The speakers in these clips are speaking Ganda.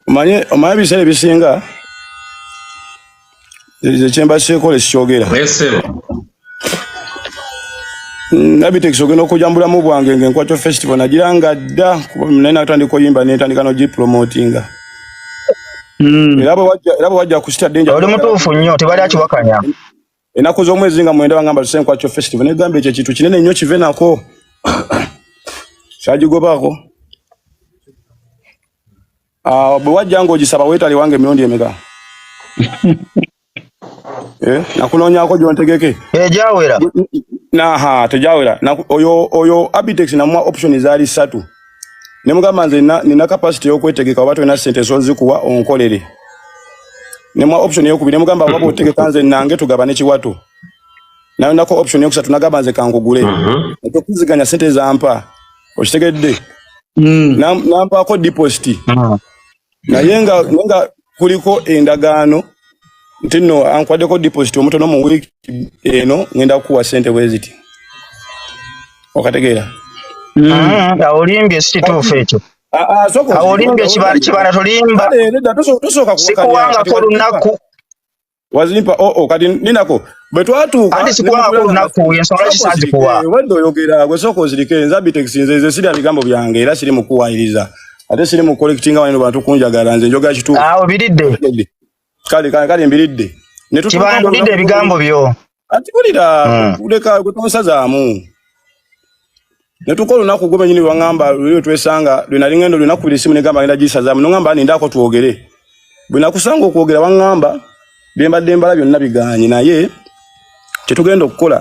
omanye omanye ebiseera ebisinga ekyemba kyekola ekikyogera nabitex ogenda okuja mubulamu bwange nga enkwakyo festival nagira nga dda naye natandika oyimba nentandika nogipromotinga hmm. era bwe wajja kusita denja oli mutuufu nnyo tebali akiwakanya enaku z'omwezi nga mwenda bangamba tusenkwacho festival negamba ekyo ekintu kinene nnyo kive nako kyagigobaako ah, bwe wajja ng'ogisaba weetali wange emirundi emeka eh, nakunoonyako gyontegeke tejawera naha tejawera oyo oyo abitex namwa option zaali ssatu ne mugamba nze nina capacity y'okwetegeka oba tolina sente zozikuwa onkolere ne mwa option eyokubiri ne mugamba waba otegeka nze nange tugabane kiwato nayo nako option yokusatu nagamba nze kankugule mhm. okuziganya sente zampa okitegedde mm. nampaako deposit mm. naye nga nga kuliko endagaano nti no ankwaddeko deposit omutono mu week eno ngenda kukuwa sente bweziti okategeera hmm. ah, nga olimbye sikituufu ekyo ah, ah, olimbye kibala tolimba sikuwangako olunaku wazimpa oo oh, oh, kati ninako bwe twatuuka ate sikuwaako olunaku ensonga ki sazikuwa obadde oyogera gwe sooka ozirike nze abitex nze nze sirya bigambo byange era siri mukuwayiriza ate siri mu collectinga wano bantu kunjagala nze njogera kituufu awo biridde kale kale mbiridde ne tutubangulidde ebigambo byo ati kulira ah. kuleka kutonsazaamu netukola olunaku gwe benyini lwaŋamba lweyo twesanga lwenali ŋenda olunaku biri simu negamba ngenda gisazaamu noŋamba nindaako twogere bwe nakusanga okwogera waŋamba byembadde mbala byonna biganye naye kyetugenda okukola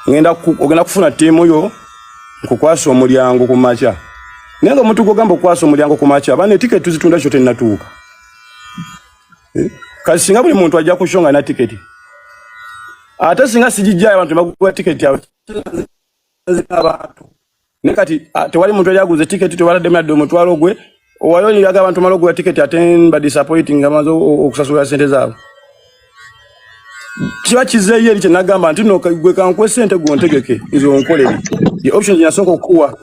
ngenda ogenda kufuna ttiimu yo nkukwasa omulyango ku makya naye nga omuntu gwogamba okukwasa omulyango ku makya abaana etiketi tuzitunda kyo tennatuuka eh? kati singa buli muntu ajja ku show nga na tiketi ate singa sigijjayo abantu baguwa tiketi yawe abantu ne kati tewali muntu yali aguze tiketi tewaladde myadde omutwalo gwe owayo niraga abantu mala oguwa tiketi ate ba disappointing nga maze okusasulira sente zaabwe kiba kizeeyo eri kyenagamba nti no gwe kankuwe sente gwe ontegeke nze onkolere ye options yasooka okukuwa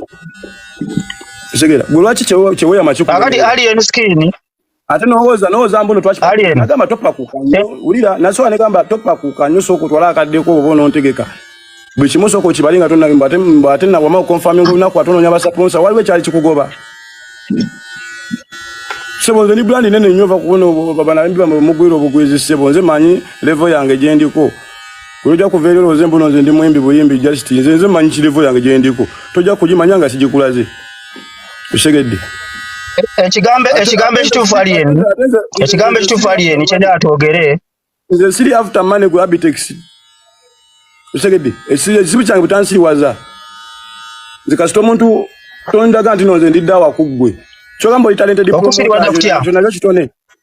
segera gwe lwaki kyeweyama kikakati ali enskin ate nowoza nowoza mbuno twakigamba topakuka nyo eh. wulira nasobola negamba topakuka nyo sooka otwala akaddeko oba onontegeka buli kimu sooka okibale nga tonayumba ate nawama okonfami olunaku ate ononya basaponsa waliwo ekyali kikugoba sebo nze ni brandi nene nyo vakubona banabimbi bamwe mugwira obugwizi sebo nze manyi levo yange gyendiko oja kuva eri olwoze mbuno nze ndi muyimbi buyimbi just nze nze manyi kirevo yange gyendiko toja kugimanya nga sigikulaze Usegedde. Ekigambo ekigambo ekituufu ali eni. Ekigambo ekituufu ali eni kyenda atwogere. Nze siri after money ku Abitex. Usegedde. Ekizibu kyange butansiriwaza. Nze kasita omuntu tondaga nti nonze ndidda wakuggwe. Kyogamba oli talented. Okusiriwaza kutya? Kyona kitone.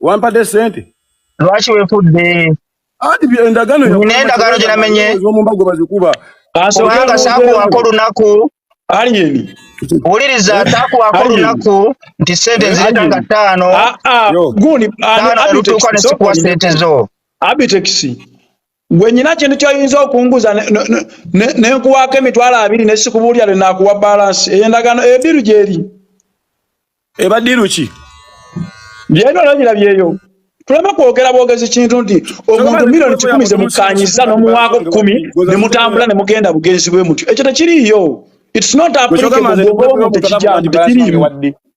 wampadde sente lwaki wefudde anti endagaano nendagaano gyenamenye omumbago bazikuba kubanga saakuwako olunaku aliyeni wuliriza takuwako lunaku nti sente nzireta nga ttaano ah, ah, olutuuka nesikuwa sente zo abitekisi gwe nyina kintu kyoyinza okunguza nenkuwaako emitwalo abiri nesikubuulira lwenakuwa balansi eyo endagaano eyo diru gyeri eba diru ki byena olabira byeyo tuleme kwogera bwogezi kintu nti omuntu milioni kikumi zemukanyiza nomuwaako kumi nemutambula nemugenda bugenzi bwe mutyo ekyo tekiriiyo its not applicable bwogoba omuntu ekijangu tekiriiyo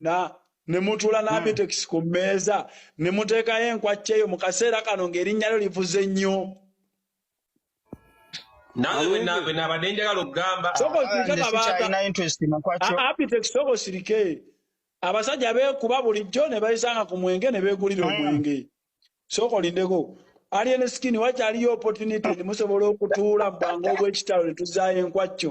na ne mutuula hmm. n'abitekisi ku mmeeza ne muteekayo enkwacca eyo mu kaseera kano ng'erinnya lyo livuze nnyo nabadde njagala okugamba abitekisi sooka osirike abasajja beekuba bulijjo ne bayisanga ku mwenge ne beegulira hmm. omwenge sooka olindeko alien skin wakyaliyo opportunity musobola okutuula mu bwangu obw'ekitalo ne tuzaayo enkwacco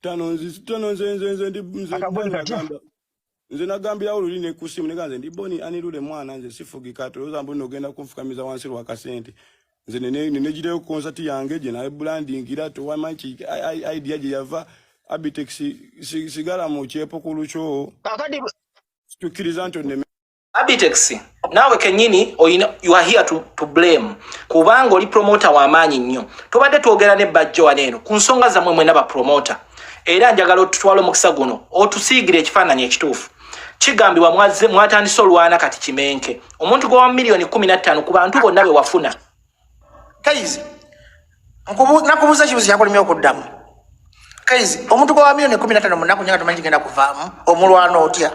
tano nzi tano nze nze nze ndi nze akaboni katya nze nagambirawo luli ne kusimu nega nze ndi boni ani lule mwana nze sifugika tuloza mbu nogenda kunfukamiza wansi lwa kasente nze nene nene jiteyo concert yange je naye branding ira to wa manchi idea je yava abitex sigala mu chepo kulucho akadi tukiriza nto ne Abitex naawe kenyini oyina you are here to, to blame kubanga oli promoter wamaanyi nnyo tubadde twogera ne bajjo wano eno ku nsonga zamwe mwena bapromoter era njagala otutwala omukisa guno otusiigire ekifaananyi ekituufu kigambibwa mwatandise olwana kati kimenke omuntu gwa wa miliyoni kumi na ttaano ku bantu bonna be wafuna kaizi nakubuuza kibuzo kyakulemye okuddamu kaizi omuntu gwa milioni kumi natano munaku nyanga tumanyi kigenda kuvaamu omulwana otya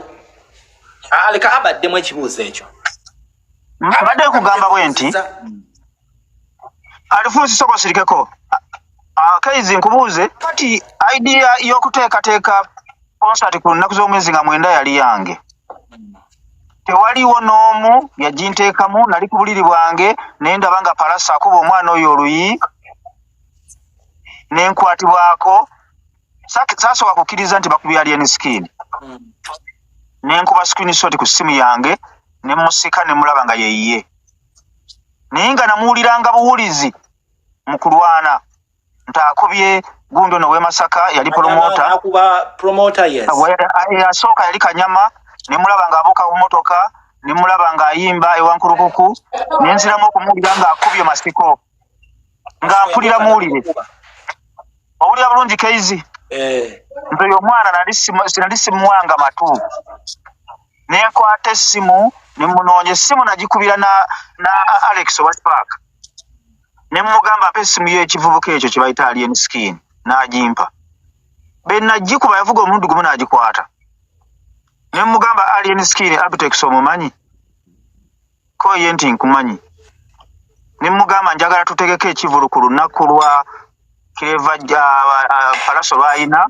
aleka ah, abaddemu ekibuuzo ekyo abadde kugamba bwe nti alifuusi soka osirikeko ah, kaizi nkubuuze kati idea y'okuteekateeka konsati ku nnaku z'omwezi nga mwenda yali yange tewaliwo n'omu yaginteekamu nali ku buliri bwange naye ndaba nga palasa akuba omwana oyo oluyi nenkwatibwako sasooka kukkiriza nti bakubya alien skin hmm. nenkuba screen shot ku simu yange nemusika nemulaba nga yeyiye naye nga namuwuliranga buwulizi mu kulwana nti akubye gundi ono wemasaka yali promota eyasooka yali kanyama nemulaba nga abuuka ku motoka nemulaba nga ayimba ewankulukuku nenziramu okumuwulira nga akubye masiko nga mpulira muwulire owulira bulungi keizi eh. nti oyo omwana nali simuwanga matu nenkwata essimu nemunoonya essimu nagikubira na alex owa spark ne mugamba mpa essimu y'ekivubuka ekyo kye bayita alien skin n'agimpa be nagikuba yavuga omulundi gumu n'agikwata ne mugamba alien skin abitex omumanyi ko ye nti nkumanyi ne mugamba njagala tutegeke ekivulu ku lunaku lwa kireva ja palaso lwayina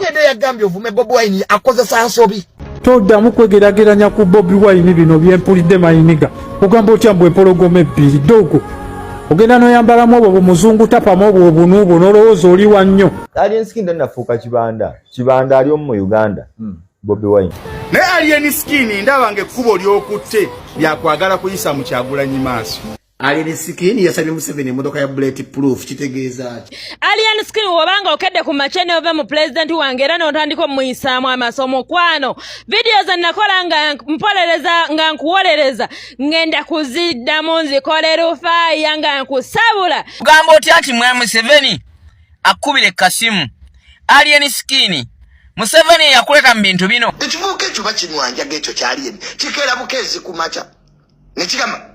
Yede yagambye ovume Bobi Wine akozesa nsobi. Toddamu kwegerageranya ku Bobi Wine bino byempulidde mayiniga. Ogamba otya mbu empologoma ebbiri ddogo. Ogenda noyambalamu obwo bumuzungu tapamu obwo obunu obwo nolowooza oli wa nnyo. Alien Skin nnafuuka kibanda. Kibanda ali omu mu Uganda. Hmm. Bobi Wine. Naye Alien Skin ndaba ng'ekkubo ly'okutte lyakwagala kuyisa mu Kyagulanyi maaso. Alien Skin yasabye Museveni emotoka ya bullet proof kitegeeza ki? Alien Skin wobanga okedde ku machene ove mu president wange era n'otandika omuyisaamu amaso omukwano vidiyo ze nakola nga mpolereza nga nkuwolereza ngenda kuziddamu nzikole rufaaya nga nkusabula kugamba otya nti mwa Museveni akkubire kasimu Alien Skin Museveni eyakuleta mu bintu bino ekivubuka ekyo bakinwanjaga ekyo kyaliyeni kikeera bukeezi ku maca ne kigamba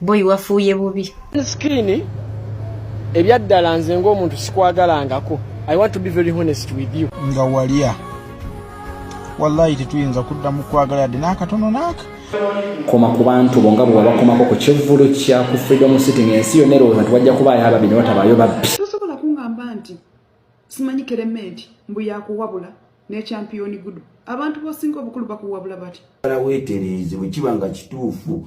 boy wafuuye bubi skini ebyaddala nze ng'omuntu sikwagalangako i want to be very honest with you nga walya wallahi tetuyinza kudda mu kwagala yadde n'akatono naaka koma ku bantu bo nga bwewabakomako ku kivvulu kya ku freedom city ng'ensi yonna erowooza nti wajja kubaayo ababbi ne watabaayo babbi tosobola kungamba nti simanyi kerementi mbu yakuwabula n'ekyampiyoni gudu abantu bosinga obukulu bakuwabula bati weetereeze bwe kiba nga kituufu